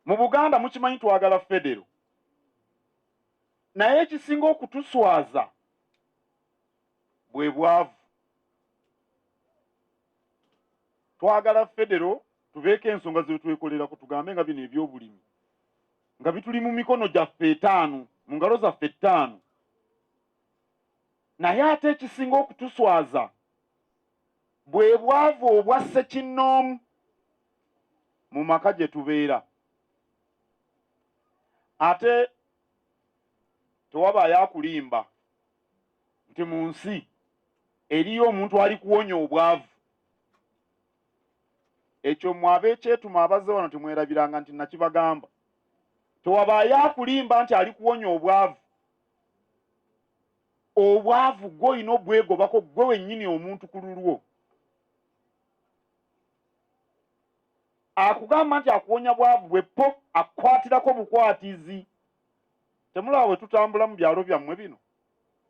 Mu Buganda mukimanyi twagala federo, naye ekisinga okutuswaza bwe bwavu. Twagala federo tubeeko ensonga zetwekolerako, tugambe nga bino ebyobulimi nga bituli mu mikono gyaffe etaano, mu ngalo zaffe ettaano, naye ate ekisinga okutuswaza bwe bwavu obwa ssekinnoomu mu maka gye tubeera ate tewabaayo akulimba nti mu nsi eriyo omuntu ali kuwonya obwavu ekyo mwe ab'ekyetuma abazze wano temwerabiranga nti nakibagamba tewabaayo akulimba nti ali kuwonya obwavu obwavu gwe olina obwegobako gwe wennyini omuntu ku lulwo akugamba nti akuwonya bwavu bwe po akukwatirako bukwatizi temulaba bwe tutambula mu byalo byammwe bino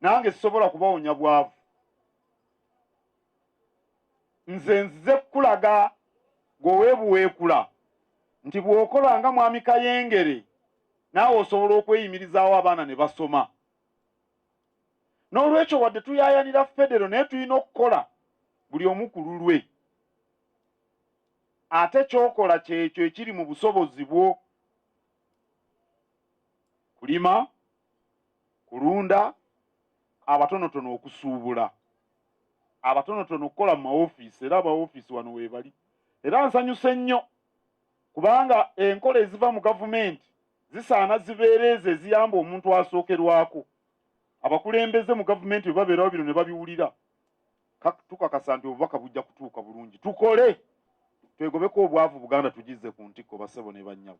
nange sisobola kubawonya bwavu nze nzize kukulaga gwewebuweekula nti bw'okola nga mwami kayengere naawe osobola okweyimirizaawo abaana ne basoma n'olwekyo wadde tuyayanira federo naye tulina okukola buli omu ku lulwe ate kyokola kyekyo ekiri mu busobozi bwo kulima kulunda abatonotono okusuubula abatonotono okukola mu mawofiisi era abawofiisi wano weebali era nsanyuse nnyo kubanga enkola eziva mu gavumenti zisaana zibeera ezo eziyamba omuntu asookerwako abakulembeze mu gavumenti bwe babeerawo bino ne babiwulira tukakasa nti obubaka bujja kutuuka bulungi tukole twegobeko obwavu buganda tugize ku ntikko basebo ne bannyabo